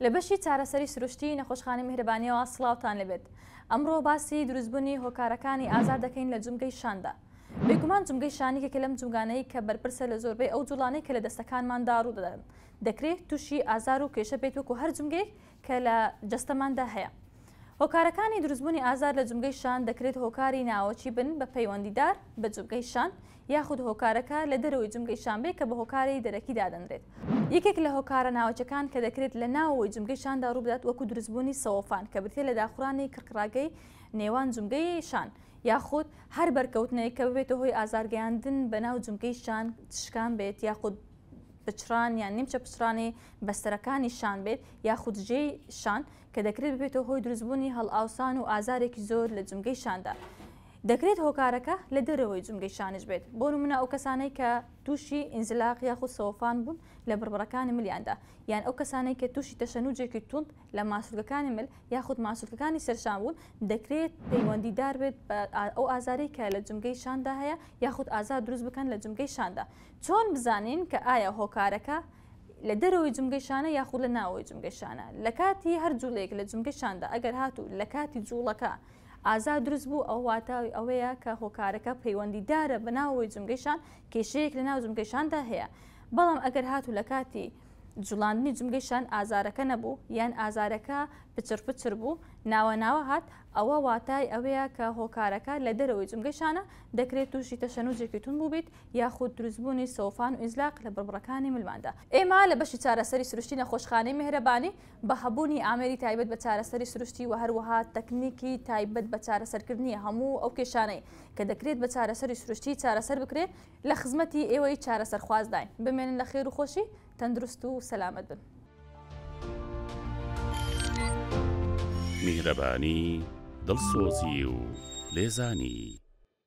لە بەشی چارەسەری سروشتی نەخۆشخانەی میهرەبانیەوە سڵاوتان لێبێت ئەمڕۆ باسی دروستبونی هۆکارەکانی ئازار دەکەین لە جومگەی شاندا بێگومان جومگەی شان یەکێکە لەم جومگانەی کە بەرپرسە لە زۆربەی ئەو جوڵانەی کە لە دەستەکانماندا ڕودەدەن دەکرێ توشی ئازار و کێشە بێت وەکو هەر جومگەیەک کە لە جەستەماندا هەیە هۆکارەکانی دروستبوونی ئازار لە جومگەی شان دەکرێت هۆکاری ناوەکی بن بە پەیوەندیدار بە جومگەی شان یاخود هۆکارەکە لە دەرەوەی جومگەی شان بێت کە بە هۆکاری دەرەکی دادەنرێت. یەکێک لە هۆکارە ناوەکیەکان کە دەکرێت لە ناوەوەی جومگەی شاندا ڕووبدات وەکو دروستبوونی سەوەفان کە بریتیە لە داخورانی کڕکڕاگەی نێوان جومگەی شان یاخود هەر بەرکەوتنێک کە ببێتە هۆی ئازارگەیاندن بە ناو جومگەی شان شکان بێت یاخود پچڕان یان نیمچە پچڕانی بەستەرەکانی شان بێت یاخود ژێی شان کە دەکرێت ببێتەوە هۆی دروستبوونی هەڵئاوسان و ئازارێکی زۆر لە جومگەی شاندا، دەکرێت هۆکارەکە لە دەرەوەی جومگەی شانیش بێت، بۆ نمونە ئەو کەسانەی کە تووشی ئینزلاق یاخود سەوەفان بوون لە بڕبڕەکانی ملیاندا، یان ئەو کەسانەی کە تووشی تەشەنوجێکی توند لە ماسولکەکانی مل یاخود ماسولکەکانی سەرشان بوون، دەکرێت پەیوەندیدار بێت بە ئەو ئازارەی کە لە جومگەی شاندا هەیە یاخود ئازار دروست بکەن لە جومگەی شاندا، چۆن بزانین کە ئایا هۆکارەکە لە دەرەوەی جومگەی شانە یاخود لە ناوەوەی جومگەی شانە لە کاتی هەر جوڵەیەک لە جومگەی شاندا ئەگەر هاتوو لە کاتی جوڵەکە ئازار دروست بوو ئەو واتاوی ئەوەیە کە هۆکارەکە پەیوەندیدارە بە ناوەوەی جومگەی شان کێشەیەک لە ناو جومگەی شاندا هەیە بەڵام ئەگەر هاتوو لە کاتی جوڵاندنی جومگەی شان ئازارەکە نەبوو یان ئازارەکە پچڕ پچر بوو ناوە ناوە هات ئەوە واتای ئەوەیە کە هۆکارەکە لە دەرەوەی جومگەی شانە دەکرێت تووشی تەشەنوجێکی توند بووبیت یاخود دروستبوونی سۆفان و ئینزلاق لە بڕبڕەکانی ملماندا. ئێمە لە بەشی چارەسەری سروشتی نەخۆشخانەی مێهرەبانی بە هەبوونی ئامێری تایبەت بە چارەسەری سروشتی و هەروەها تەکنیکی تایبەت بە چارەسەرکردنی هەموو ئەو کێشانەی کە دەکرێت بە چارەسەری سروشتی چارەسەر بکرێت لە خزمەتی ئێوەی چارەسەرخوازداین. بمێنن لە خێر و خۆشی، تەندروست و سەلامەت بن. میهرەبانی، دڵسۆزی و لێزانی.